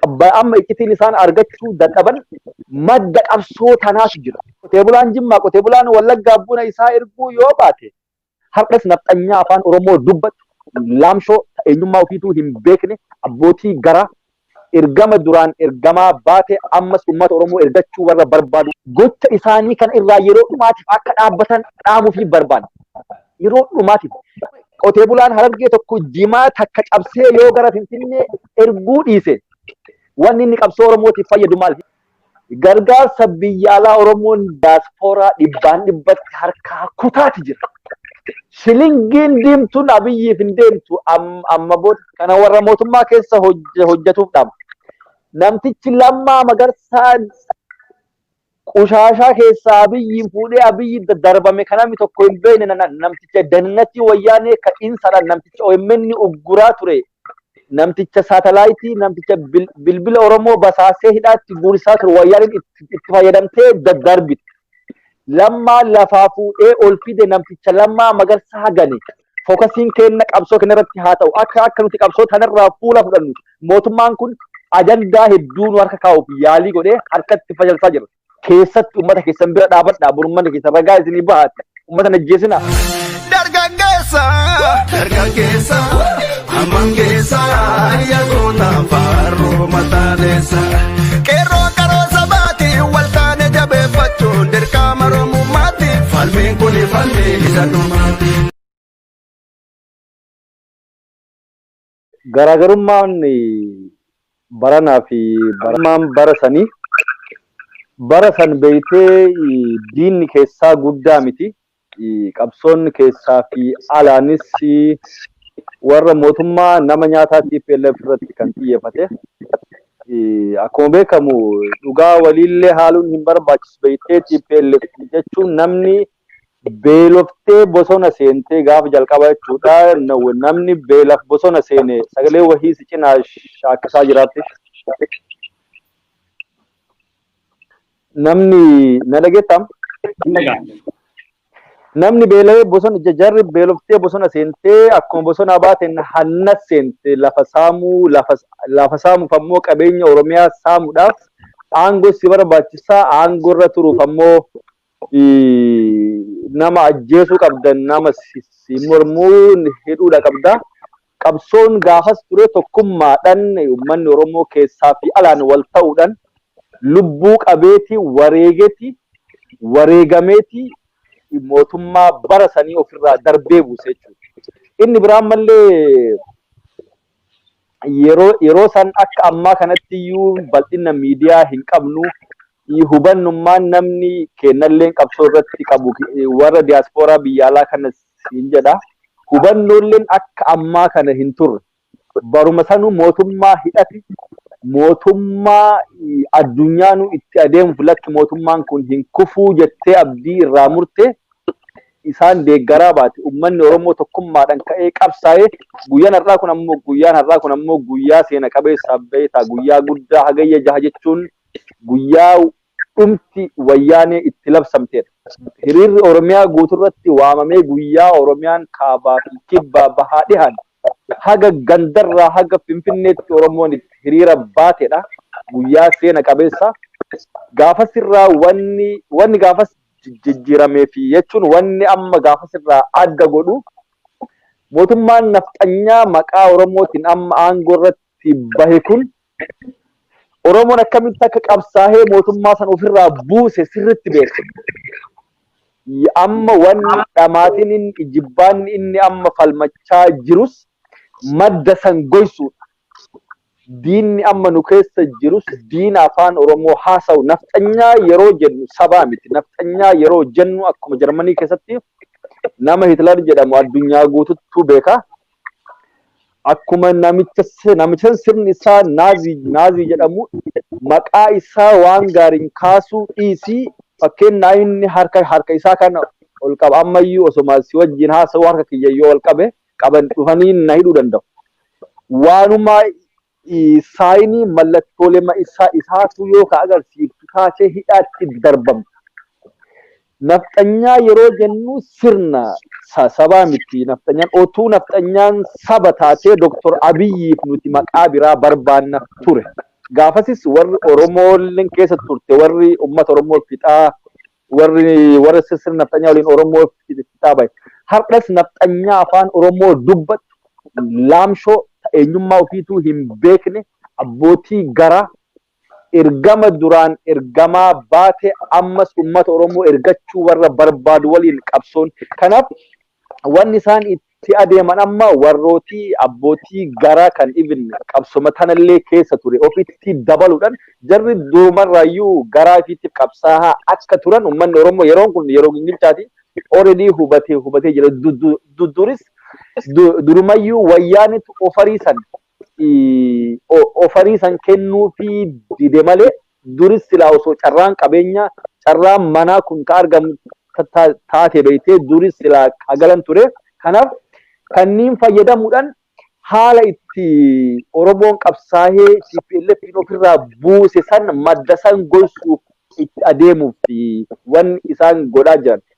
qabba- amma iccitiin isaan argachuu dadhaban madda qabsoo tanaatu jira. Qotee bulaan Jimmaa, qotee bulaan Wallaggaa buna isaa erguu yoo baate har'as nafxanyaa afaan Oromoo dubbatu laamshoo eenyummaa ofiituu hin beekne abbootii garaa ergama duraan ergamaa baate ammas uummata Oromoo ergachuu warra barbaadu gocha isaanii kan irraa yeroo dhumaatiif akka dhaabbatan dhaamuu fi barbaada. Yeroo dhumaatiif qotee bulaan harargee tokko jimaa takka cabsee yoo gara Finfinnee erguu dhiise wanni inni qabsoo Oromootiif fayyadu maal? Gargaarsa biyya alaa Oromoon diyaaspooraa dhibbaan dhibbatti harkaa kutaati jira. Shilingiin diimtuun abiyyiif hin deemtu am- amma booda kana warra mootummaa keessa hojj- hojjetuuf dhama. Namtichi lammaa magarsaa Qushaashaa keessaa Abiyyiin fuudhee Abiyyi darbame ka namni tokko hin beekne namticha dannatii wayyaanee ka insadhaan namticha omn ugguraa ture namticha saatalaayitii namticha bilbila Oromoo basaasee hidhaatti guursaa ture wayyaaneen itti fayyadamtee daddarbite. Lammaa lafaa fuudhee ol fide namticha lammaa magarsaa gane fokasiin keenna qabsoo kenna irratti haa ta'u akka akka nuti qabsoo tanarraa fuula fudhannu mootummaan kun ajandaa hedduu nu harka kaa'uuf yaalii godhee harkatti fashalsaa jira. Keessatti uummata keessan bira dhaabadhaa burmanni keessan ragaa isinii bahaatti uummata najjeesina. Dargaggeessa. Dargaggeessa. Hamman keessa ya goota faarroo mataa deessa. Qeerroo qaroo sabaati wal taane jabeeffachuun dirqama Oromummaati. Falmiin kun falmii isa dhumaati. Garaagarummaan baranaa fi baramaan bara sanii bara san beeytee diinni keessaa guddaa miti. qabsoon keessaa fi alaanis warra mootummaa nama nyaataa TPLF irratti kan xiyyeeffate. Akkuma beekamu dhugaa waliillee haaluun hin barbaachisu beektee TPLF jechuun namni beeloftee bosona seentee gaafa jalqaba jechuudha. Namni beelaf bosona seene sagalee wahii si cinaa shaakkisaa jiraatti. Namni na dhageettaa? Hin dhaga'amu. Namni beela'ee bosona ija jarri beeloftee bosona seentee akkuma bosonaa baateen hanna seente lafa saamuu lafa lafa saamuuf ammoo qabeenya Oromiyaa saamuudhaaf aangoo si barbaachisaa aangoo irra turuuf ammoo ii, nama ajjeesuu qabda nama si si mormuu hidhuudha qabda Qabsoon gaafas ture tokkummaadhan ummanni Oromoo keessaa fi alaan wal ta'uudhan lubbuu qabeeti, wareegeti, wareegameeti mootummaa bara sanii of irraa darbee buuse jechuudha. Inni biraa ammallee yeroo yeroo san akka ammaa kanatti iyyuu bal'inna miidiyaa hin qabnu. Hubannummaan namni keennalleen qabsoo irratti qabu warra diyaaspooraa biyya alaa kanas siin jedha. Hubannoolleen akka ammaa kana hin turre. Baruma sanuu mootummaa hidhate, mootummaa addunyaanuu itti adeemuuf lakki mootummaan kun hin kufuu jettee abdii irraa murte isaan deeggaraa baate. Ummanni Oromoo tokkummaadhaan ka'ee qabsaa'e. Guyyaan har'aa kun ammoo guyyaan har'aa kun ammoo guyyaa seena qabeessaaf beektaa guyyaa guddaa hagayya jaha jechuun guyyaa dhumti wayyaanee itti labsamteedha. Hiriirri Oromiyaa guuturratti waamamee guyyaa Oromiyaan kaabaa fi kibbaa, bahaa, dhihaan haga gandarraa haga Finfinneetti Oromoon itti hiriira baatedha. Guyyaa seena qabeessa. Gaafasirraa wanni wanni gaafas jijjiiramee fi jechuun wanni amma gaafasirraa adda godhu mootummaan nafxanyaa maqaa Oromootiin amma aangoo irratti irratti bahe kun Oromoon akkamitti akka qabsaahee mootummaa san ofirraa buuse sirritti beeka. Amma wanni dhamaatiin inni ijibbaanni inni amma falmachaa jirus madda san goysuudha. Diinni amma nu keessa jirus diina afaan Oromoo haasawu nafxanyaa yeroo jennu sabaa miti. Nafxanyaa yeroo jennu akkuma Jarmanii keessatti nama Hitler jedhamu addunyaa guututtuu beeka. akkuma namicha si- namichan sirni isaa naazii naazii jedhamu maqaa isaa waan gaariin kaasuu dhiisii fakkeenyaa inni harka harka isaa kana ol qaba ammayyuu osoma si wajjin haasa'uu harka kiyya yoo ol qabe qaban dhufanii na hidhuu danda'u. Waanuma Saayiniin mallattoolee ma'isaa isaatu yoo ka agarsiiftu taatee hidhaatti darbamta. Nafxanyaa yeroo jennu sirna sa sabaa miti nafxanyaan otuu nafxanyaan saba taatee Doktor Abiyyiif nuti maqaa biraa barbaanna ture. Gaafasis warri Oromoolleen keessa turte warri ummata Oromoo fixaa warri warra sirna nafxanyaa waliin Oromoo fixaa bahe. Har'as nafxanyaa afaan Oromoo dubbattu laamshoo ta eenyummaa ofiituu hin beekne abbootii garaa ergama duraan ergamaa baate ammas uummata Oromoo ergachuu warra barbaadu waliin qabsoon. Kanaaf wanni isaan itti adeeman amma warrootii abbootii garaa kan ibn qabsoma tanallee keessa ture ofitti dabaluudhaan jarri durumarraayyuu garaa ifiitti qabsaahaa akka turan ummanni Oromoo yeroon kun yeroo gingilchaati already hubatee hubatee jira. Duduris durumayyuu wayyaanitu ofariisan ofarii san kennuufii dide malee duris silaa osoo carraan qabeenyaa carraan manaa kun ka argamu taate beeytee duris silaa ka galan ture kanaaf kanniin fayyadamuudhaan haala itti Oromoon qabsaahee TPLFin ofirraa buuse san madda san goysuuf itti adeemuuf wan isaan godhaa jiran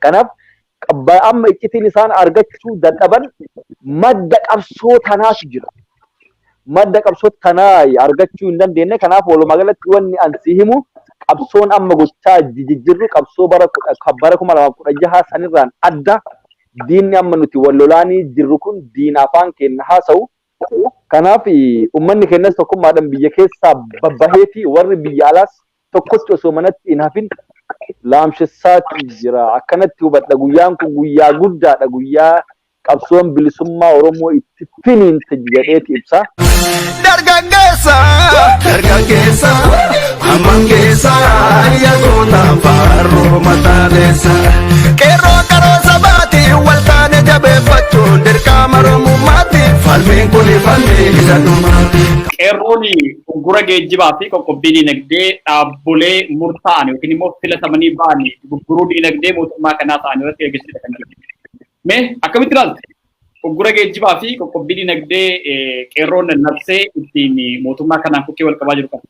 Kanaaf amma iccitiin isaan argachuu dadhaban madda qabsoo tanaatu jira. Madda qabsoo tanaa argachuu hin dandeenye. Kanaaf walumaa galatti wanni an si himu qabsoon amma gochaa jijjirru qabsoo bara bara kuma lamaaf kudha jahaa sanirraan adda diinni amma nuti wal lolaanii jirru kun diina afaan keenya haasa'u. Kanaaf uummanni keenyas tokkummaadhaan biyya keessaa babbahee fi warri biyya alaas tokkotti osoo manatti hin hafin laamshessaatii jira. Akkanatti hubadha guyyaan kun guyyaa guddaadha guyyaa qabsoon bilisummaa Oromoo itti finiinte jedheeti ibsa. Dargaggeessa dargaggeessa hamman keessa yaadota faaruu mataa deessa. Qeerroo qaroo sabaati wal taane jabeeffachuun dirqama Oromummaati falmiin kuni falmii isa dhumaati. Qeerroon Uggura geejjibaa fi qoqqobbii diinagdee dhaabbolee murtaa'an yookiin immoo filatamanii ba'an gurguruu diinagdee mootummaa kanaa ta'an irratti gaggeessuudha kan jiru. Mee akkamitti ilaalta? Uggura geejjibaa fi qoqqobbii diinagdee qeerroon labsee ittiin mootummaa kanaan kukkee wal qabaa jiru kana.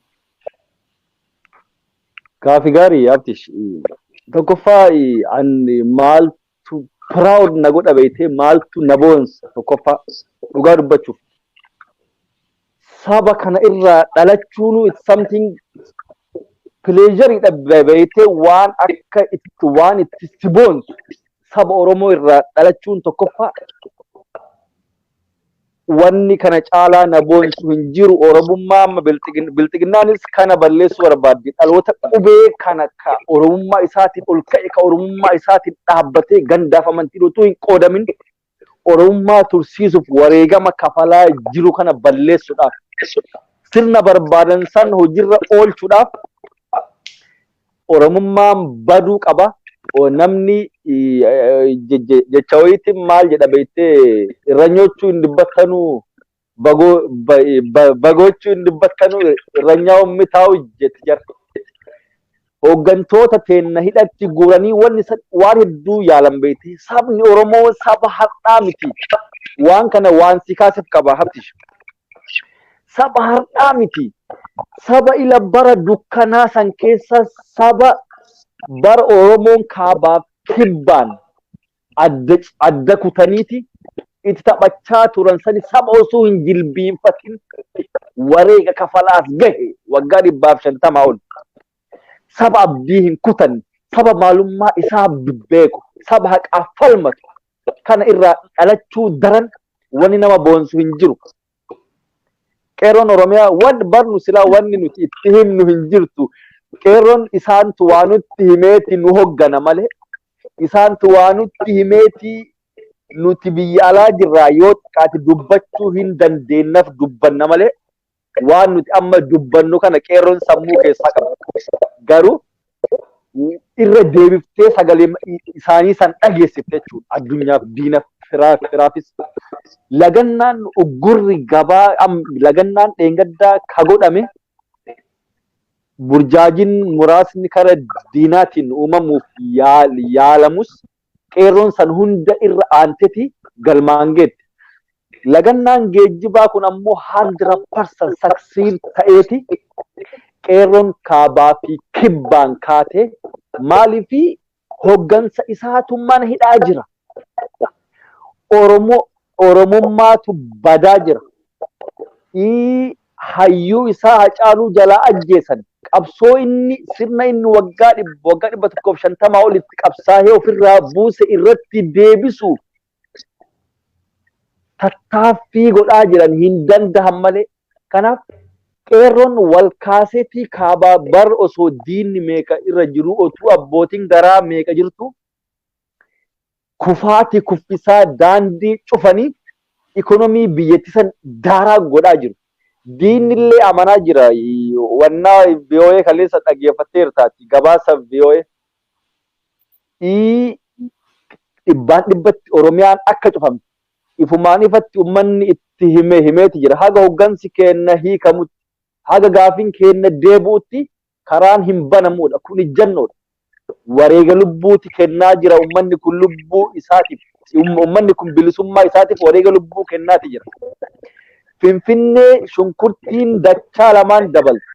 Gaafi gaarii Abdish. Tokkoffaa an maal maaltu proud na godha beektee maaltu na boonsa tokkoffaa dhugaa dubbachuuf saba kana irraa dhalachuunuu it's something pleasure dha beektee waan akka itti waan itti si boonsu saba Oromoo irraa dhalachuun tokkoffaa wanni kana caalaa na boonsu hin jiru oromummaa amma bilxigin- bilxiginnaanis kana balleessuu barbaaddi dhaloota qubee kana ka oromummaa isaatiin ol ka'e ka oromummaa isaatiin dhaabbatee gandaaf amantiin utuu hin qoodamin oromummaa tursiisuuf wareegama kafalaa jiru kana balleessuudhaaf sirna barbaadan san hojiirra oolchuudhaaf Oromummaan baduu qaba. Namni jecha wayiitti maal jedha beektee irranyochuu hin dubbattanuu bagochuu hin dubbattanuu irranyaa ummitaa'u jetti jarti. Hooggantoota teenna hidhatti guuranii wanni waan hedduu yaalan beekti. Sabni Oromoo saba har'aa miti. Waan kana waan si kaasef qaba habtish. Saba har'aa miti. Saba ila bara dukkanaa san keessa saba bara Oromoon kaabaaf kibbaan adda, adda kutaniiti itti taphachaa turan sani saba osoo hin jilbiinfatin wareega kafalaas gahe waggaa dhibbaaf shantamaa ol. Saba abdii hin kutanne, saba maalummaa isaa beeku, saba haqaaf falmatu, kana irraa dhalachuu daran wanni nama boonsu hin jiru. Qeerroon Oromiyaa waan barnu silaa wanni nuti itti himnu hin jirtu. Qeerroon isaantu waa nutti himeeti nu hoggana malee isaantu waa nutti himeeti nuti biyya alaa jirraa yoo xiqqaate dubbachuu hin dandeenyaf dubbanna malee waan nuti amma dubbannu kana qeerroon sammuu keessaa qabna. Garuu irra deebiftee sagalee isaanii san dhageessifte jechuudha. Addunyaaf diina firaa firaafis. Lagannaan uggurri gabaa am- lagannaan dheengaddaa ka godhame burjaajiin muraasni kara diinaatiin uumamuuf yaal- yaalamus Qeerroon san hunda irra aanteti galmaan geette. Lagannaan geejjibaa kun ammoo 100% succeed ta'eeti Qeerroon kaabaa fi kibbaan kaatee maaliif hoggansa isaatu mana hidhaa jira. Oromoo Oromummaatu badaa jira. hayyuu isaa Hacaaluu jalaa ajjeesan, qabsoo inni, sirna inni waggaa dhibba, waggaa 150 ol itti qabsaahee ofirraa buuse irratti deebisuuf tattaaffii godhaa jiran hin dandahan malee. Kanaaf qeerroon wal kaaseetii kaabaa bar osoo diinni meeqa irra jiruu otuu abbootiin garaa meeqa jirtuu Kufaati kuffisaa daandii cufanii ikonomii biyyatti san daaraa godhaa jiru. Diinni illee amanaa jira. Wannaa VOA kaleessa dhageeffatteertaati. Gabaasa VOA. Ii dhibbaan dhibbatti Oromiyaan akka cufamte ifumaan ifatti ummanni itti hime himeeti jira. Haga hoggansi keenna hiikamutti, haga gaafiin keenna deebi'utti Karaan hin banamuudha. Kun ijjannoodha. Wareega lubbuuti kennaa jira ummanni kun lubbuu isaatiif. Ummanni kun bilisummaa isaatiif wareega lubbuu kennaati jira. Finfinnee shunkurtiin dachaa lamaan dabalti.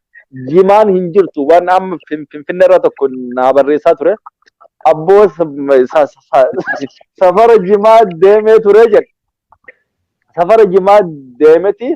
Jimaan hin jirtu. Waan amma Finfinnee irra tokko naa barreessaa ture. Abboo safara jimaa deemee ture jedhe. Safara jimaa deemeti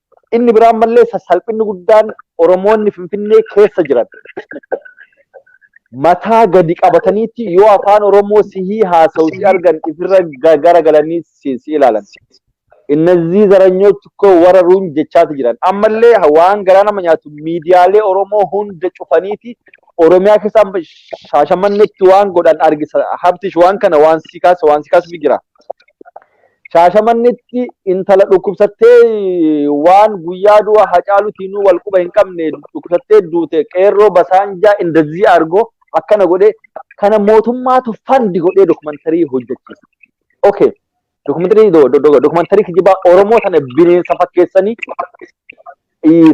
Inni biraa ammallee sassalphinni guddaan Oromoonni Finfinnee keessa jiran mataa gadi qabataniitti yoo afaan Oromoo sihii haasawu si argan ifirra gara galanii si si ilaalan. Innazii zaranyoch ko wararuun jechaati jiran. Ammallee waan garaa nama nyaatu miidiyaalee Oromoo hunda cufaniiti Oromiyaa keessa amma shaashamannetti waan godhan argisa. Habtish waan kana waan si kaasa waan si kaasutu jira. Shaashamannetti intala dhukkubsattee waan guyyaa du'a Hacaalutiin wal quba hin qabne dhukkubsattee duute qeerroo basaanjaa indazii argoo akkana godhee kana mootummaatu fandi godhee dokumantarii hojjechiisa. Okay. Dokumantarii dokumantarii kijibaa Oromoo sana bineensa fakkeessanii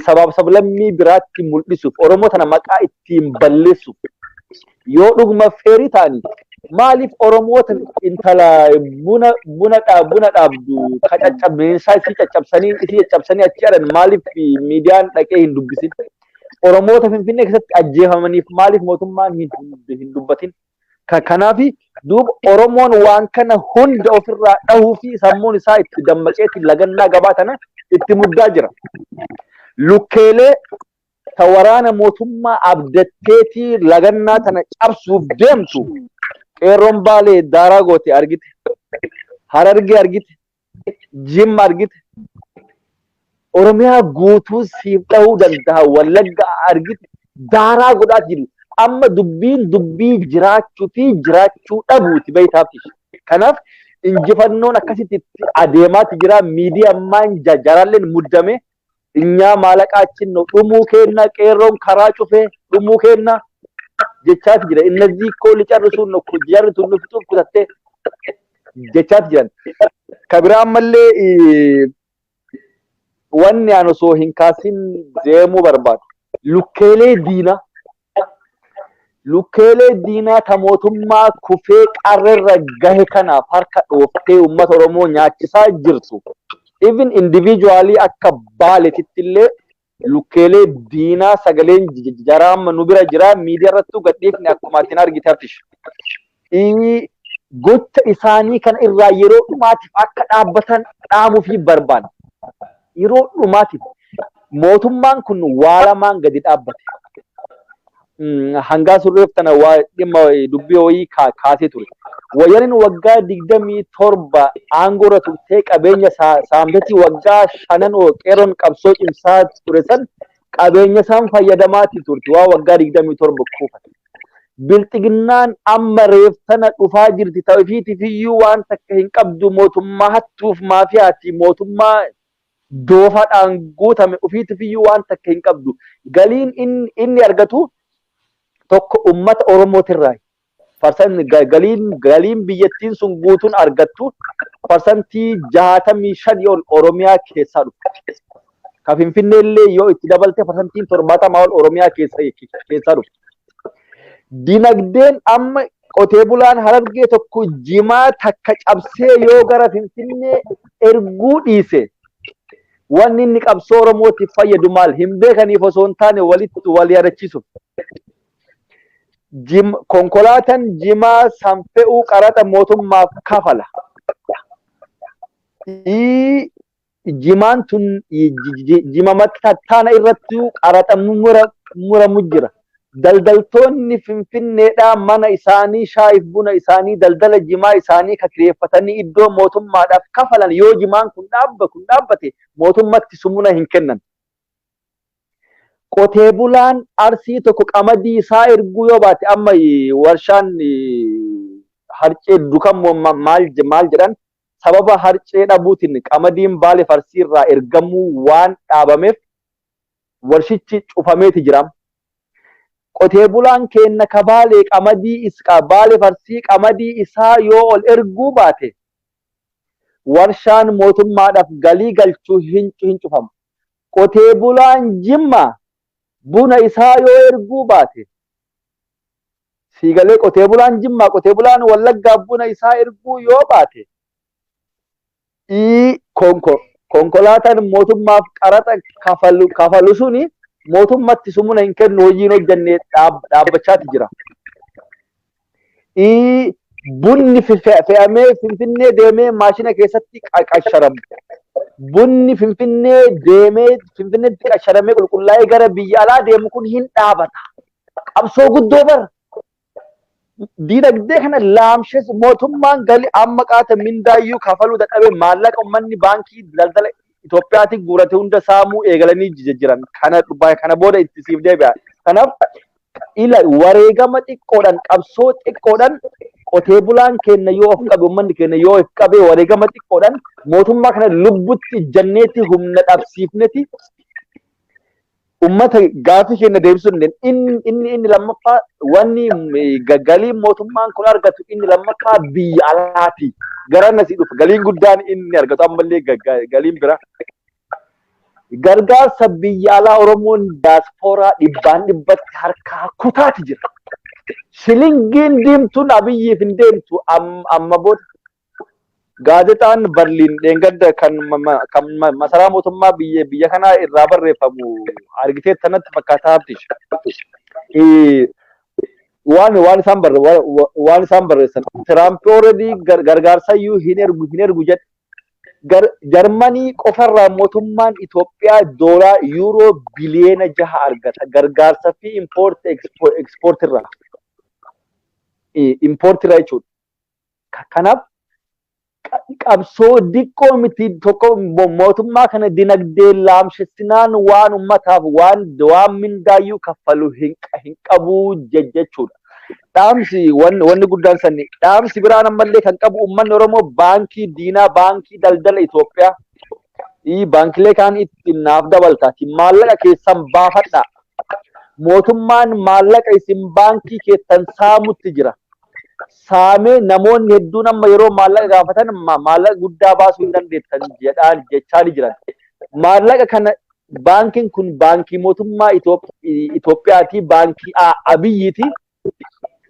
sabaaf sablammii biraatti mul'isuuf Oromoo tana maqaa ittiin balleessuuf yoo dhuguma feerii ta'anii maaliif Oromoota intala buna buna dhaa- buna dhaabdu ka caccabinsaa isii caccabsanii isii caccabsanii achi jedhan maaliif miidiyaan dhaqee hin dubbisin Oromoota Finfinnee keessatti ajjeefamaniif maaliif mootummaan hin hin dubbatin Ka- Kanaaf duuba Oromoon waan kana hunda ofirraa dhahuu fi sammuun isaa itti dammaqeetiin lagannaa gabaa tana itti muddaa jira. Lukkeelee ta waraana mootummaa abdatteetii lagannaa tana cabsuuf deemtu qeerroon baalee daaraa goote argite. Harargee argite. Jimma argite. Oromiyaa guutuu siif dhahuu danda'a wallagga argite daaraa godhaati jiru. Amma dubbiin dubbii jiraachuu fi jiraachuu dhabuuti beektaaf ishee. Kanaaf injifannoon akkasitti itti adeemaati jira. Miidiyaan maan jaaraalleen muddame Finyaa maalaqaachin no dhumuu keenna qeerroon karaa cufee dhumuu keenna jechaati jira. Innazii koo licarrisuun no kun jarri tun nu fixuuf kutattee jechaati jiran. Ka biraa ammallee eh, wanni aan osoo hin kaasin deemuu barbaadu. Lukkeelee diina Lukkeelee diinaa ta mootummaa kufee qarrerra gahe kanaaf harka dhooftee uummata Oromoo nyaachisaa jirtu even individually akka baaletitti illee lukkeelee diinaa sagaleen jaraa amma nu bira jira miidiyaa irrattuu gadhiifne akkuma atin argite Abtish. gocha isaanii kana irraa yeroo dhumaatiif akka dhaabbatan dhaamuufi barbaanna. Yeroo dhumaatiif mootummaan kun waa lamaan gadi dhaabbate. Hangaa surreef tana waa dhimma dubbii wayii kaasee ture. Wayyanin waggaa digdamii torba aangoo irra turtee qabeenya saamtetti waggaa shanan qeerroon qabsoo cimsaa ture san qabeenya isaan fayyadamaatii turte waa waggaa 27 kuufate. Bilxiginnaan amma reef sana dhufaa jirti ta'ufiitiif iyyuu waan takka hin qabdu mootummaa hattuuf maafiyaati mootummaa doofadhaan guutame ofiitiif iyyuu waan takka hin qabdu. Galiin inni, inni argatu tokko ummata Oromootirraa parsan galiin galiin biyyattiin sun guutuun argattu parsantii jaatamii shanii ol Oromiyaa keessaa dhufa. Ka Finfinnee illee yoo itti dabalte parsantiin torbaatamaa ol Oromiyaa keessaa dhufa. Dinagdeen amma qotee bulaan harargee tokko jimaa takka cabsee yoo gara Finfinnee erguu dhiise wanni inni qabsoo Oromootiif fayyadu maal hin beekaniif osoo hin taane walitti wal yaadachiisuuf. Jim- Konkolaataan jimaa san fe'uu qaraxa mootummaaf kafala. Ii- Jimaan tun i- ji- ji- jima mattaana irratti qaraxa mura- muramu jira. Daldaltoonni Finfinneedhaa mana isaanii shaayiif buna isaanii daldala jimaa isaanii ka kireeffatanii iddoo mootummaadhaaf kafalan yoo jimaan kun dhaabba kun dhaabbate mootummatti sumuna hin kennan. Qotee bulaan Arsii tokko qamadii isaa erguu yoo baate amma warshaan harcee dukan maal jedhan sababa harcee dhabuutiin qamadiin Baaleef Arsii irraa ergamuu waan dhaabameef warshichi cufameeti jira. Qotee bulaan keenna ka Baalee qamadii Baaleef Arsii qamadii isaa yoo ol erguu baate warshaan mootummaadhaaf galii galchu hin cufamu. Qotee bulaan Jimmaa buna isaa yoo erguu baate sii galee qotee bulaan Jimmaa qotee bulaan Wallaggaa buna isaa erguu yoo baate ii konko konkolaataan mootummaaf qaraxa kafalu kafalu suni mootummatti sumuna hin kennu hojiin hojjannee dhaab dhaabbachaati jira. ii, Bunni fe- fe- fe'amee Finfinnee deemee maashina keessatti qa- qasharamu. Bunni Finfinnee deemee Finfinneetti qasharamee qulqullaa'ee gara biyya alaa deemu kun hin dhaabata. Qabsoo guddoo bara. Diinagdee kana laamshees mootummaan galii amma qaata mindaayyuu kafaluu dadhabee maallaqa uummanni baankii daldala Itoophiyaatiin guurate hunda saamuu eegalanii jijjiiran. Kana, kana booda itti siif deebi'a. Kanaaf Ilaali, wareegama xiqqoodhaan, qabsoo xiqqoodhaan qotee bulaan keenya yoo of qabe, uummanni keenya yoo of qabe, wareegama xiqqoodhaan mootummaa kana lubbutti ijjanneeti, humna dhabsiifneeti, uummata gaaffii keenya deebisuu dandeenya. Inni inni inni lammaffaa wanni eh, ga- galiin mootummaan kun argatu inni lammaffaa biyya alaati. Gara nasii dhufa. Galiin guddaan inni argatu ammallee ga- ga- galiin biraa. Gargaarsa biyya alaa Oromoon daaspooraa dhibbaan dhibbatti harkaa kutaati jira. Shilingiin diimtuun Abiyyiif hin deemtu amma booda. Gaazexaan Barliin dheengadda kan masaraa mootummaa biyya kanaa irraa barreeffamu argitee tanatti fakkaataa habtish. Waan waan isaan barre waan isaan barreessan Tiraamp ooredii gargaarsa iyyuu hin ergu hin ergu jedhe Jarmanii qofarraa mootummaan Itoophiyaa doolaa yuuroo biliyeena jaha argata. Gargaarsa fi impoorti ekspoortirraa. Impoortirraa jechuudha. Kanaaf qabsoo diqqoo miti tokko mootummaa kana dinagdee laamshessinaan waan ummataaf waan waan mindaayyuu kaffalu hin qabuu jechuudha. dhaamsi wan- wanni guddaan sanni dhaamsi biraan ammallee kan qabu uummanni Oromoo baankii diinaa baankii daldala Itoophiyaa ii baankilee kaan itti naaf dabaltaati maallaqa keessan baafadhaa mootummaan maallaqa isin baankii keessan saamutti jira saamee namoonni hedduun amma yeroo maallaqa gaafatan ma- maallaqa guddaa baasuu hin dandeettan jedhaan jechaa ni jiran maallaqa kana baankiin kun baankii mootummaa Itoophiyaati, baankii Abiyyiiti.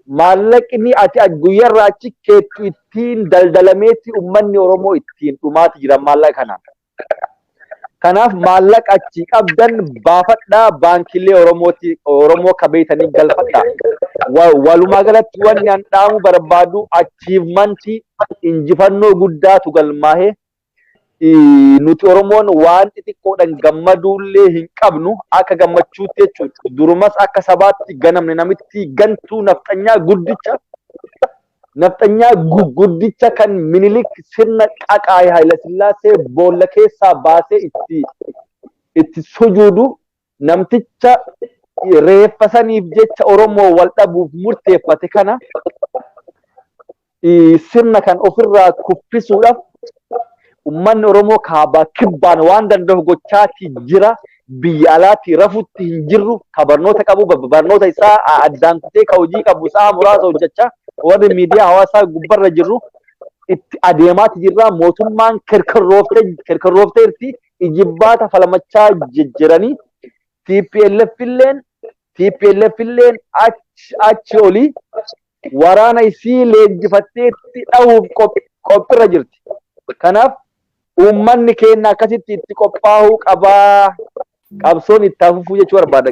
Maallaqni ati guyyarraa achi keettu ittiin daldalameetti uummanni Oromoo ittiin dhumaati jira maallaqa kanaan. Kanaaf maallaqa achi qabdan baafadhaa baankiilee Oromooti Oromoo akka beeytanii galfadhaa. Walumaa galatti wanni an dhaamu barbaadu achiivmantii injifannoo guddaatu galmaahee nuti Oromoon waan xixiqqoodhaan gammaduullee hin qabnu akka gammachuutti jechuudha. Durumas akka sabaatti ganamne namitti gantuu nafxanyaa guddicha nafxanyaa guddicha kan minilik sirna qaqaa'e Hayilasillaasee boolla keessaa baasee itti itti sujuudu Namticha reeffa saniif jecha Oromoo wal dhabuuf murteeffate kana sirna kan ofirraa kuffisuudhaaf ummanni Oromoo kaabaa kibbaan waan danda'u gochaatii jira. Biyya alaatii rafutti hin jirru. Ka barnoota qabu barnoota isaa addaan kutee ka hojii qabu sa'a muraasa hojjechaa warri miidiyaa hawaasaa gubbarra jirru itti adeemaati jirra. Mootummaan kerkerroofte kerkerroofteerti ijibbaata falmachaa jijjiranii TPLF illeen TPLF illeen achi olii waraana isii leenjifatteetti dhahuuf qophirra jirti. Kanaaf uummanni keenya akkasitti itti qophaa'uu qabaa qabsoon itti hafufuu jechuu barbaada.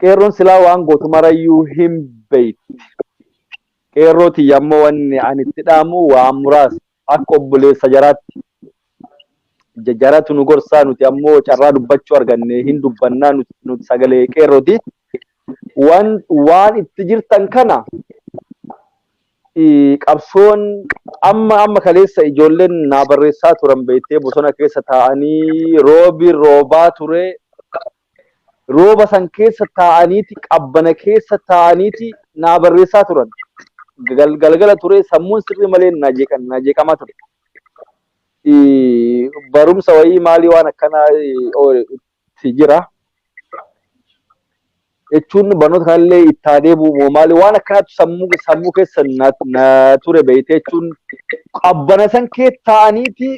Qeerroon silaa waan gootu marayyuu hin beekti. Qeerroo tiyya ammoo wanni ani itti dhaamu waan muraasa. Akka obboleessa jaraatti jaratu nu gorsaa nuti ammoo carraa dubbachuu arganne hin dubbannaa nuti sagalee qeerrooti. Waan itti jirtan kana qabsoon amma amma kaleessa ijoolleen naa barreessaa turan beektee bosona keessa taa'anii roobi roobaa ture rooba san keessa taa'aniiti qabbana keessa taa'aniiti naa barreessaa turan. Gal- Galgala ture sammuun sirrii malee naa jeeqan- naa jeeqamaa ture. Eh, Barumsa wayii maalii waan akkanaa eh, oole itti jira. Jechuun barnoota kanallee itti haa deebi'u moo maalii waan akkanaatu sammuu sammuu keessa na, na ture beeyte jechuun qabbana san keessa taa'aniiti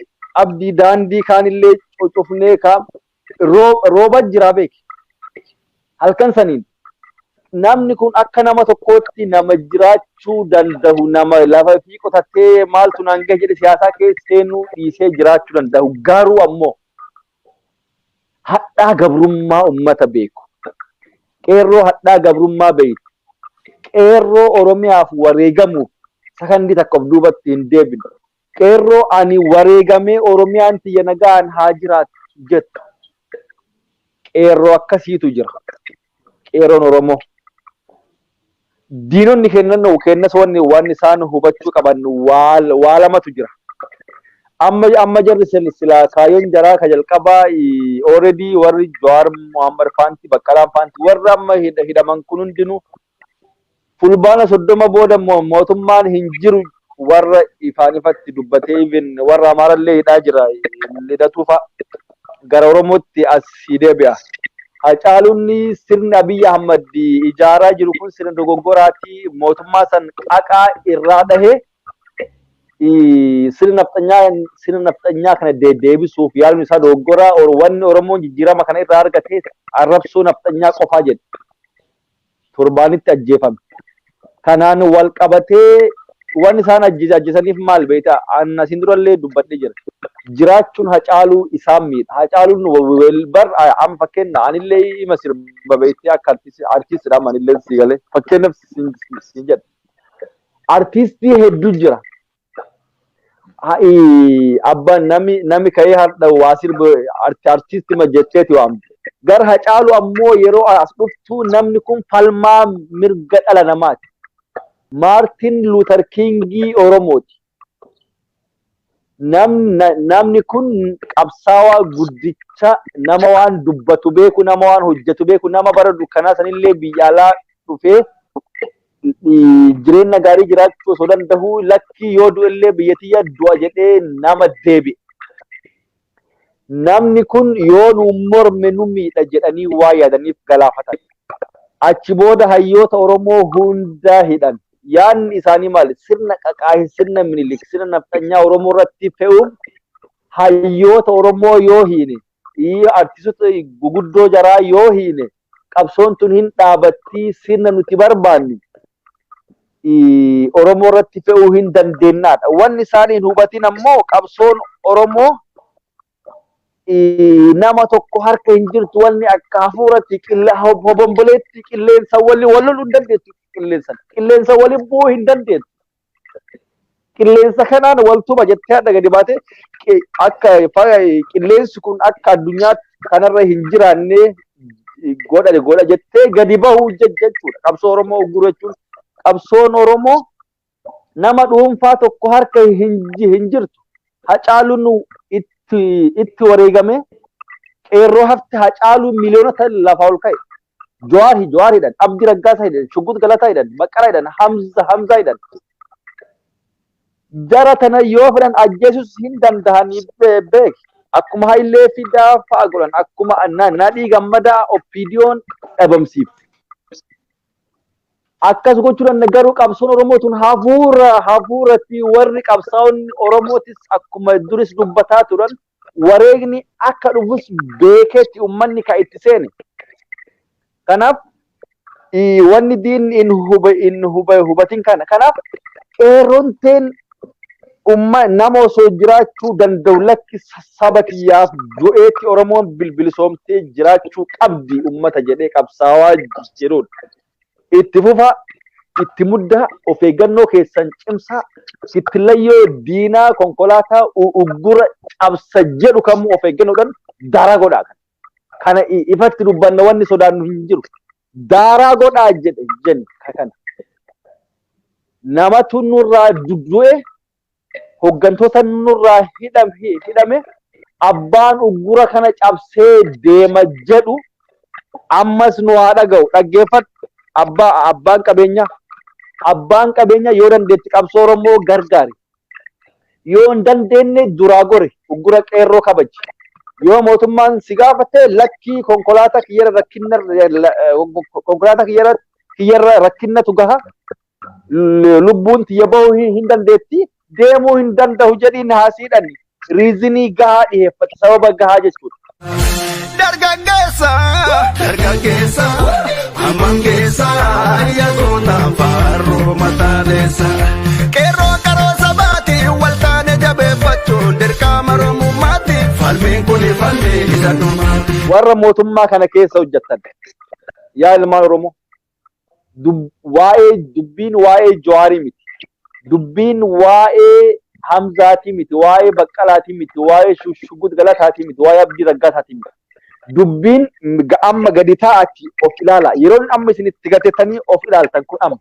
abdii daandii kaanillee cocofnee kaa Roo- rooba jira beeki. Halkan saniin namni kun akka nama tokkootti nama jiraachuu danda'u nama lafa fi qotatee maaltu naan gahe jedhe siyaasaa keessa seenuu dhiisee jiraachuu danda'u garuu ammoo hadhaa gabrummaa ummata beeku qeerroo hadhaa gabrummaa beeytu qeerroo oromiyaaf wareegamuuf sakandii takka of duubatti hin deebine Qeerroo ani wareegamee Oromiyaan tiyya nagaan haa jiraattu jettu qeerroo akkasiitu jira. Qeerroon Oromoo diinonni kennan kennas wanni waan isaan hubachuu qaban waa lamatu jira. Amma amma jarri sen silaa kaayyoon jaraa ka jalqabaa already warri Jawaar Mohammed faanti Baqqalaan faanti warri amma hidhaman kun hundinuu Fulbaana 30 booda immoo mootummaan hin jiru warra ifaan ifatti dubbatee even warra Amaara illee hidhaa jira Lidatuu fa'a gara Oromootti as sii deebi'a. Hacaaluun sirni Abiy Ahmad ijaaraa jiru kun sirna dogoggoraati mootummaa san qaqaa irraa dhahe sirna nafxanyaa sirna nafxanyaa kana deebisuuf yaaluun isaa dogoggoraa wanni Oromoon jijjiirama kana irraa argate arrabsoo nafxanyaa qofaa jedhe. torbaanitti ajjeefame. Kanaan wal qabatee waan isaan ajjeese ajjeesaniif maal beektaa? An asiin durallee dubbadhee jira. Jiraachuun Hacaaluu isaan miidha. Hacaaluun bar amma fakkeenya anillee ima sirba beektee akka artiistidha amma anillee sii galee fakkeenyaaf siin jedha. Artiistii hedduu jira. Ha'i abba nami nami ka'ee hardha waa sirba arti artisti ma jetteeti waamte. Gar hacaalu ammoo yeroo as dhuftu namni kun falmaa mirga dhala namaati. Maartin Luuter Kiingii Oromooti. Nam, na, namni kun qabsaawaa guddicha nama waan dubbatu beeku nama waan hojjetu beeku nama bara dukkanaa sanillee biyya alaa dhufee Jireenna gaarii jiraachuu osoo dandahuu lakkii yoo du'ellee biyya tiyya du'a jedhee nama deebi'e. Namni kun yoo nu morme nu miidha jedhanii waan yaadaniif galaafatan. Achi booda hayyoota Oromoo hundaa hidhan. Yaadni isaanii maali? Sirna qaqaahin sirna Minilik sirna nafxanyaa Oromoo irratti fe'uuf hayyoota Oromoo yoo hiine, artistoota guguddoo jaraa yoo hiine qabsoon tun hin dhaabattii sirna nuti barbaannu Oromoo irratti fe'uu hin dandeennaadha. Wanni isaan hin hubatin ammoo qabsoon Oromoo nama tokko harka hin jirtu wanni akka hafuuratti hobomboleetti qilleensa waliin wal loluu hin dandeettu qilleensa. Qilleensa waliin bu'uu hin dandeettu. qilleensa kanaan waltuma jettee adda gadi baate akka qilleensi kun akka addunyaa kanarra hin jiraannee godha godha jettee gadi bahuu jechuudha. Qabsoo Oromoo ugguru jechuun qabsoon Oromoo nama dhuunfaa tokko harka hin jirtu. Hacaaluun itti wareegamee qeerroo hafti hacaaluun miliyoonota lafa ol ka'e. Jawaar hi Jawaar hidhan, Abdi Raggaasaa hidhan, Shuggut Galataa hidhan, Maqara hidhan, Hamza Hamzaa hidhan. Jara tana yoo fedhan ajjeesus hin dandahani be- beek. Akkuma Hayilee Fidaa fa'a godhan, akkuma na- Nadhii Gammadaa Oppiidiyoon dhabamsiifte. Akkas gochuu danda'a garuu qabsoon Oromoo tun hafuura hafuuratti warri qabsaa'onni Oromootis akkuma duris dubbataa turan wareegni akka dhufus beekeetti ummanni ka itti seene. Kanaaf wanni diinni hin hube hin hube hubatin kana. Kanaaf qeerroon teen umma nama osoo jiraachuu danda'u lakki saba kiyyaaf du'eetti Oromoon bilbilisoomtee jiraachuu qabdi ummata jedhee qabsaawaa jirudha. itti fufaa itti muddaa of eeggannoo keessan cimsaa kittillayyoo diinaa konkolaataa uggura cabsa jedhu kamuu of eeggannoodhaan daaraa godhaa kan kana ifatti dubbanna wanni sodaannu hin jiru daaraa godhaa jedhe jenna kana namatu nurraa du'e hooggantoota nurraa hidhame abbaan uggura kana cabsee deema jedhu ammas nu haa dhaga'u dhaggeeffadhu abbaa abbaan qabeenyaa abbaan qabeenyaa yoo dandeetti qabsoo oromoo gargaari yoo hin dandeenye duraa gori uggura qeerroo kabaji yoo mootummaan si gaafate lakkii konkolaataa kiyyara rakkinna konkolaataa kiyyara kiyyarra rakkinnatu gaha lubbuun tiyya bahuu hin hin dandeetti deemuu hin danda'u jedhiin haasiidhan riizinii gahaa dhiheeffate sababa gahaa jechuudha. Dargaggeessa, dargaggeessa, hamman keessa, yaadota faaruu mataaneessa. Qeerroo qaroo sabaati, wal taane jabeeffachuun dirqama Oromummaati. Falmiin kun falmii isa dhumaati. Warra mootummaa kana keessa hojjettan yaa ilmaan Oromoo waa'ee dubbiin waa'ee Jawaarii miti. Dubbiin waa'ee Hamzaatii miti, waa'ee Baqqalaatii miti, waa'ee Shushugud Galataatii miti, waa'ee Abdii Raggaasaatii miti. Dubbiin amma gadi taa'aati of ilaala. Yeroon amma isin itti gatettanii of ilaaltan kun amma.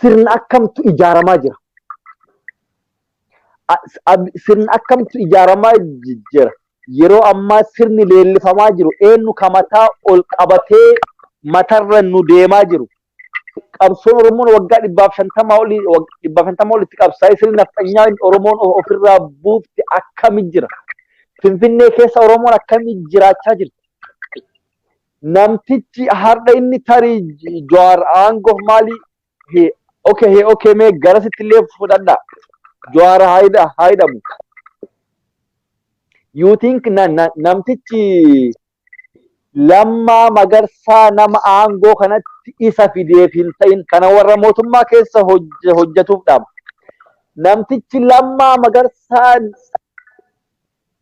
Sirna akkamtu ijaaramaa jira. Sirni akkamtu ijaaramaa jira. Yeroo ammaa sirni leellifamaa jiru eenyu ka mataa ol qabatee matarra nu deemaa jiru. Qabsoon Oromoon waggaa dhibbaaf shantamaa olii dhibbaaf shantamaa olitti qabsaa'ee sirni nafxanyaa Oromoon ofirraa buufte akkami jira. Finfinnee keessa Oromoon akkami jiraachaa jirti. Namtichi har'a inni tarii Jawaar aangoof maalii He okay he okay mee garasitti illee fudhadha. Jawaar haa hidha haa hidhamu. You think na, na, namtichi lammaa magarsaa nama aangoo kanatti isa fideef hin ta'in kana warra mootummaa keessa hojje- hojjetuuf dhaama. Namtichi lammaa magarsaa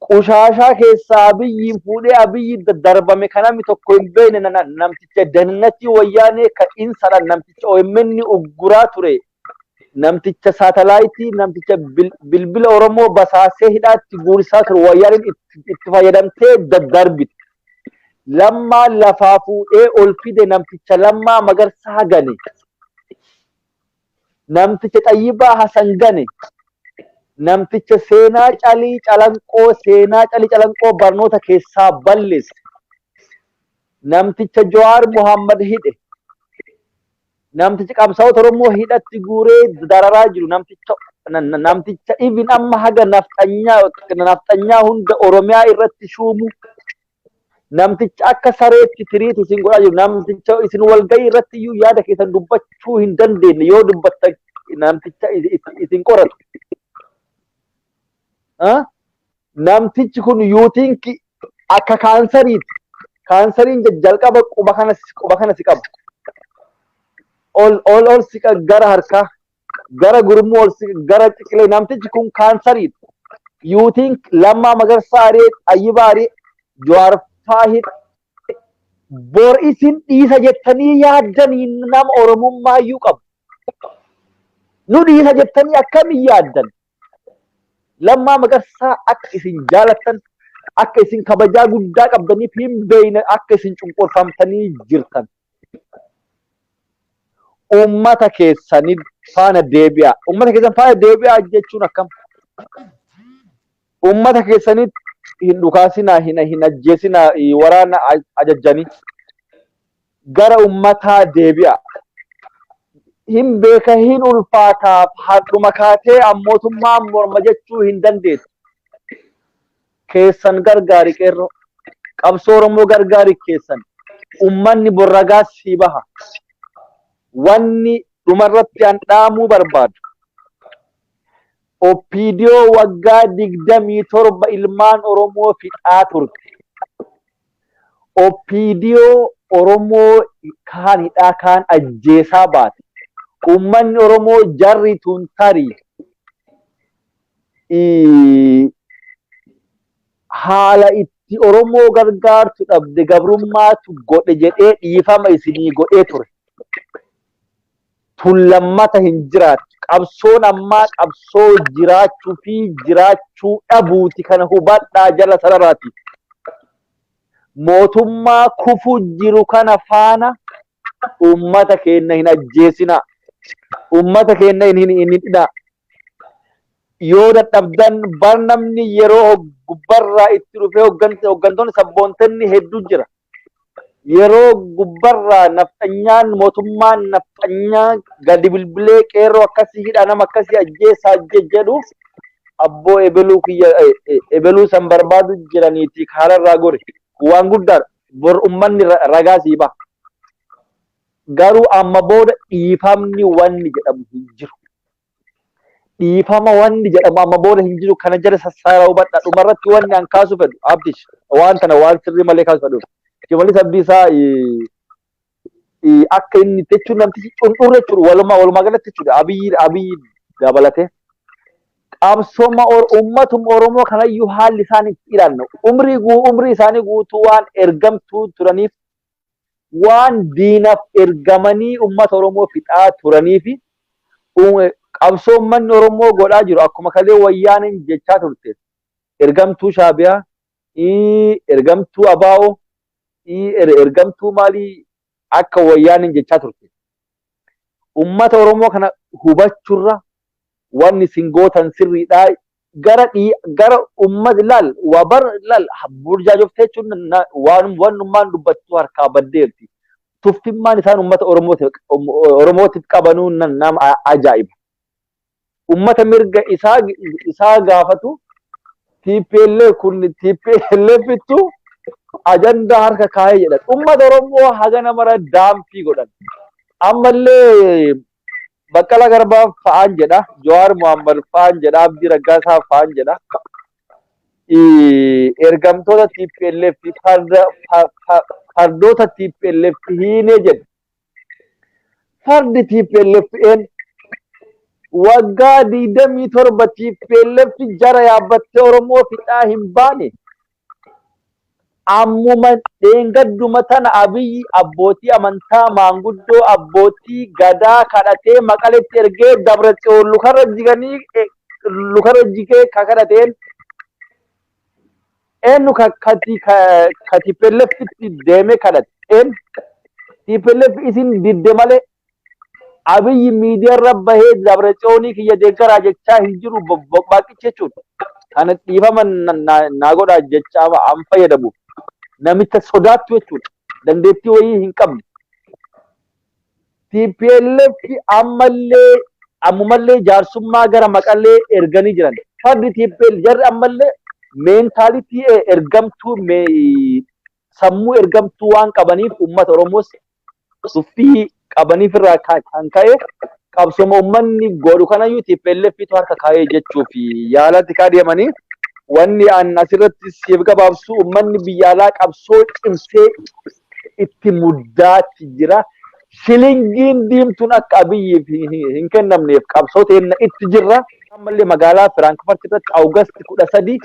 Qushaashaa keessaa Abiyyiin fuudhee Abiyyiin daddarbame ka namni tokko hin beekne namticha Dehinatii Wayyaanee ka insadhaan namticha omn ugguraa ture, namticha Saatalaayitii, namticha bilbila Oromoo basaasee hidhaatti guursisaa ture Wayyaaneen itti fayyadamtee daddarbite. Lammaa lafaa fuudhee ol fide namticha Lammaa Magarsaa gane. namticha Xayyibaa Hasan Gane, namticha seenaa Calii Calanqoo seenaa Calii Calanqoo barnoota keessaa balleesse, namticha Jawaar Muhammad hidhe, namticha qabsaa'ota Oromoo hidhatti guuree dararaa jiru, namticha namticha even amma haga nafxanyaa nafxanyaa hunda Oromiyaa irratti shuumu namticha akka sareetti tiriit isin godhaa jiru namticha isin walgahii irratti iyyuu yaada keessan dubbachuu hin dandeenye yoo dubbatta namticha is- is- isin qoratu. Ah? Namtichi kun yuutiin ki- akka kaansariiti. Kaansariin ja- jalqaba quba kana si- quba kana si qaba. Ol ol ol si qa- gara harkaa gara gurmuu ol siqe gara ciqilee namtichi kun kaansariidha. You think Lammaa Magarsaa Aree Xayyibaa Aree Jawaar Faahid bor isin dhiisa jettanii yaaddanii nama Oromummaa iyyuu qabu. Nu dhiisa jettanii akkamiin yaaddan? Lammaa Magarsaa akka isin jaalattan, akka isin kabajaa guddaa qabdaniif hin beekne akka isin cunqurfamtanii jirtan. Uummata keessanii faana deebi'aa. Uummata keessan faana deebi'aa jechuun akkam? Uummata keessanitti hin dhukaasinaa, hin hin ajjeesinaa, waraana ajajjanii. gara ummataa deebi'a. Hin beeka hin ulfaataaf hardhuma kaatee ammootummaan morma jechuu hin dandeettu. Keessan gargaari qeerroo. Qabsoo Oromoo gargaari keessan. Ummanni borragaa sii baha. Wanni dhumarratti an dhaamuu barbaadu. Oppiidiyoo waggaa 27 ilmaan Oromoo fixaa turte. Oppiidiyoo Oromoo kaan hidhaa kaan ajjeesaa baate. Uummanni Oromoo jarri tun tarii haala itti Oromoo gargaartu dhabde gabrummaatu godhe jedhee dhiifama isinii godhee ture. tun lammata hin jiraattu. Qabsoon ammaa qabsoo jiraachuu fi jiraachuu dhabuuti kana hubadhaa jala sararaati. Mootummaa kufu jiru kana faana uummata keenna hin ajjeesinaa. Uummata keenna hin hidhinaa. yoo dadhabdan bar namni yeroo hog- gubbarraa itti dhufee hoggan- hoggantoonni sabboontenni hedduu jira. Yeroo gubbarraa nafxanyaan mootummaan nafxanyaa gadi bilbilee qeerroo akkasii hidhaa nama akkasii ajjeesaa je- jedhu abboo ebeluu kiyya eh, eh, ebeluu san barbaadu jiraniiti kaararraa gori. Waan guddaadha. Bor ummanni ra- ragaa sii baha. Garuu amma booda dhiifamni wanni jedhamu hin jiru. Dhiifama wanni jedhamu amma booda hin jiru kana jala sassaara hubadha. Dhuma irratti wanni an kaasu fedhu Abdish waan tana waan sirrii malee kaasu fedhu. Shimallis Abdiisaa akka inni itti jechuun namtichi cundhurre jechuudha. Walumaa walumaa galatti jechuudha. Abiyyi abiyyi dabalatee. Qabsooma uummatum Oromoo kanayyuu haalli isaan itti ilaalna. Umrii umrii isaanii guutuu waan ergamtuu turaniif waan diinaf ergamanii ummata Oromoo fixaa turaniifi qabsoo ummanni Oromoo godhaa jiru akkuma kalee Wayyaaneen jechaa turte ergamtuu Shaabiyaa, ergamtuu Abaa'o, ergamtuu maalii akka Wayyaaneen jechaa turte ummata Oromoo kana hubachurra wanni isin gootan sirriidhaa gara dhii gara ummati laal waa bar laal burjaajoftee jechuun na- na- waan wannummaan dubbattu harkaa baddeerti. Tuffimmaan isaan ummata Oromootiif Oromootiif qabanuu na- nama a- ajaa'iba. Ummata mirga isaa isaa gaafatu TPLF kun TPLF ittu ajandaa harka kaa'ee jedhan. Ummata Oromoo haga namara daampii godhan. Ammallee Baqqala Garbaa fa'aan jedha, Jawaar Mohammad fa'aan jedha, Abdii Raggaasaa fa'aan jedha. Ergamtoota TPLF fardoota TPLF hiinee jedha. Fardi TPLF een waggaa digdamii torba TPLF jara yaabbattee Oromoo fixaa hin baane Ammuma dheengadduma tana Abiyyi abbootii amantaa, maanguddoo, abbootii Gadaa kadhatee Maqaletti ergee Dabratsiyoon lukarra jiganii lukarra jigee ka kadhateen eenyu ka kati ka TPLFtti deemee kadhate eenyu TPLF isin didde malee Abiyyi miidiyaarra bahee Dabratsioonii kiyya deeggaraa jechaa hin jiru boqbaaqichi jechuun kana dhiifama naa godhaa jecha an fayyadamuuf namicha sodaattu jechuudha. Dandeettii wayii hin qabne. TPLF ammallee ammumallee jaarsummaa gara maqallee erganii jiran. Fardi TPL jarri ammallee meentaalitii ergamtuu sammuu ergamtuu waan qabaniif uummata Oromoos tuffii qabaniif irraa ka- kan ka'e qabsoma uummanni godhu kanayyuu TPLFitu harka kaa'ee jechuuf yaalatti kaa deemanii wanni an asirratti siif gabaabsu uummanni biyya alaa qabsoo cimsee itti muddaatti jira. Shilingiin diimtuun akka abiyyiif hin- hin hin kennamneef qabsoo teenna itti jirra. Ammallee magaalaa Firaankfurt irratti Awugasti kudha sadii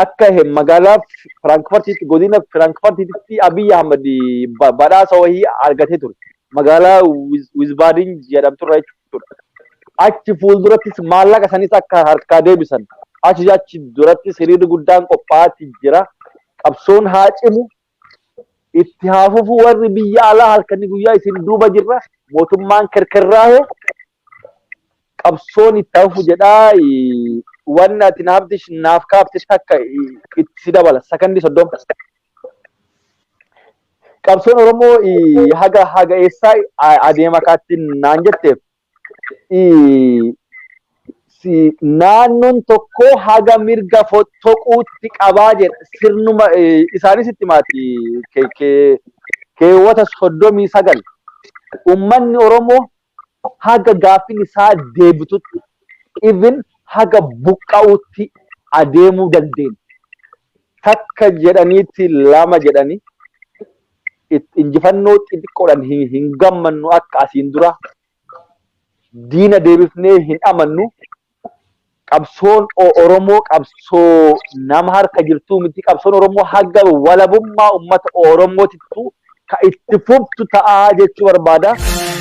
akka he- magaalaa F- Firaankfartiitti godina Firaankfartiitti Abiy Ahmad ba- badhaasa wahii argatee ture. Magaalaa Wiz- Wiizbaadin jedhamturra jechuudha. Achi fuuldurattis maallaqa sanis akka harkaa deebisan. Achi achi durattis hiriirri guddaan qophaa'aatti jira. Qabsoon haa cimu, itti haa fufu warri biyya alaa halkanii guyyaa isin duuba jirra mootummaan kerkerraahe qabsoon itti haa fufu jedhaa eh, wanni ati naaf dish- naaf kaafte takka eh, itti si dabala sakandii soddoma qabsoon oromoo eh, haga haga eessaa eh, adeema kaattiin naan jetteef naannoon tokko haga mirga fottoquutti qabaa jedha. Sirnuma isaanis itti maati keewwata soddomii sagal. Uummanni Oromoo haga gaaffiin isaa deebitutti even haga buqqa'uutti adeemuu dandeenya. Takka jedhaniitti lama jedhanii itti injifannoo xixiqqoodhaan hin, hin gammannu akka asiin dura diina deebifnee hin amannu qabsoon O- Oromoo qabsoo nama harka jirtuu miti qabsoon Oromoo haga walabummaa ummata Oromootittu ka itti fuftu ta'aa jechuu barbaada.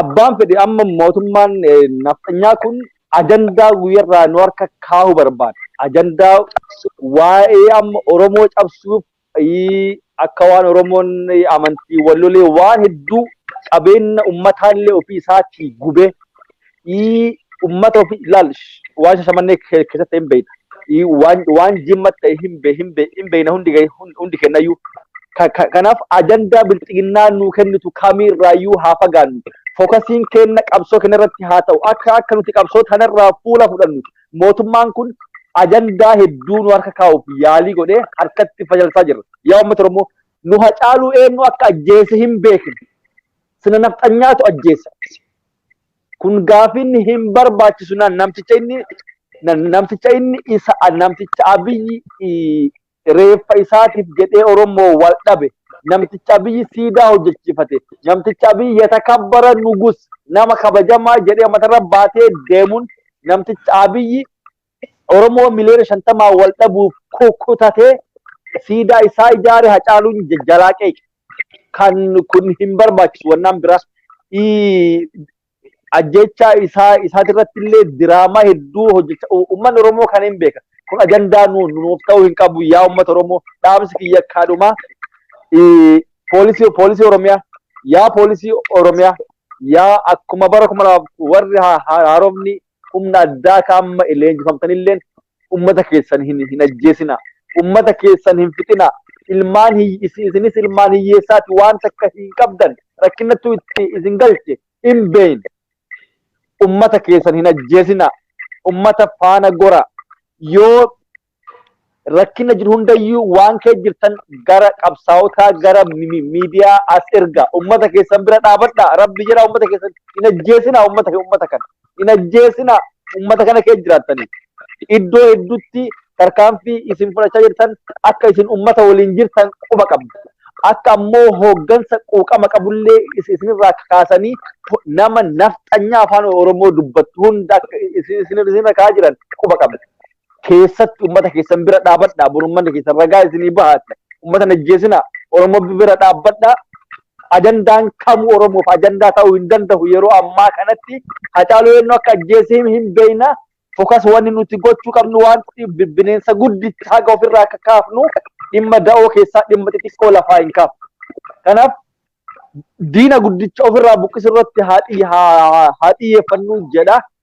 abbaan fedhe amma mootummaan nafxanyaa kun ajandaa guyyarraa nu harka kaahu barbaada. Ajandaa waa'ee amma Oromoo cabsuuf akka waan Oromoon amantii wallolee waan hedduu qabeenya ummataallee ofii isaatii gubee ii ummata ofii ilaal waan shashamannee ke- keessatti ta'e hin beeyna ii waan waan jimma ta'e hin be hin be hin beeyna hundi ga'e- hun- hundi kennayyuu Ka- ka- kanaaf ajandaa bilxiginnaa nuu kennitu kamiirraayyuu haa fagaannu fokasiin kenna qabsoo kenna irratti haa ta'u akka akka nuti qabsoo tanarraa fuula fudhannu mootummaan kun ajandaa hedduu nu harka kaa'uuf yaalii godhee harkatti fayyalsaa jirra yaa uummata oromoo nu hacaaluu eenyu akka ajjeese hin beekne sina nafxanyaatu ajjeessa Kun gaafiin hin barbaachisu na- namticha inni na- namticha inni isa namticha abiyyi i- reeffa isaatiif jedhee Oromoo wal dhabe namticha abiyyi siidaa hojjechiifate namticha abiyyi yatakabbara nugus nama kabajamaa jedhee matarra baatee deemuun namticha abiyyi Oromoo miliyoona shantamaa wal dhabuuf kukkutatee siidaa isaa ijaare hacaaluun jalaa qeeqe. Kan kun hin barbaachisu wannaan biraa. Ajjechaa isaa isaatirratti illee diraamaa hedduu hojjecha uummanni Oromoo kan hin beeka. Kun ajandaa nuuf ta'uu hin qabu yaa uummata Oromoo dhaamsi kiyya akkaadhumaa poolisii poolisii Oromiyaa yaa poolisii Oromiyaa yaa akkuma bara kuma lamaaf warri haaromni humna addaa ka amma leenjifamtanilleen ummata keessan hin hin ajjeesinaa. Ummata keessan hin fixinaa. Ilmaan hiyy- isi- isinis ilmaan hiyyeessaati waan takka hin qabdan rakkinnattuu itti isin galche hin beeyin. Ummata keessan hin ajjeesinaa. Ummata faana goraa. Yoo rakkina jiru hundayyuu waan kee jirtan gara qabsaawotaa gara miidiyaa as erga ummata keessan bira dhaabadha rabbi jira ummata keessan hin ajjeesina ummata kee ummata kana hin ajjeesina ummata kana kee jiraattanii iddoo hedduutti tarkaanfii isin fudhachaa jirtan akka isin ummata waliin jirtan quba qabdu akka ammoo hooggansa quuqama qabullee isinirraa kaasanii nama nafxanyaa afaan oromoo dubbattu hunda isinirra kaa jiran quba qabdu keessatti ummata keessan bira dhaabadhaa bor ummanni keessan ragaa isinii bahaati ummata hin ajjeesinaa oromoo bira dhaabbadhaa ajandaan kamuu oromoof ajandaa ta'uu hin danda'u yeroo ammaa kanatti hacaaluu eenyu akka ajjeese hin- hin beekna fokas wanni nuti gochuu qabnu waan bi- bineensa guddicha haga ofirraa akka kaafnu dhimma da'oo keessaa dhimma xixiqqoo lafaa hin kaafnu kanaaf diina guddicha ofirraa buqqisuu irratti haa xiyye- haa- haa- haa xiyyeeffannu jedha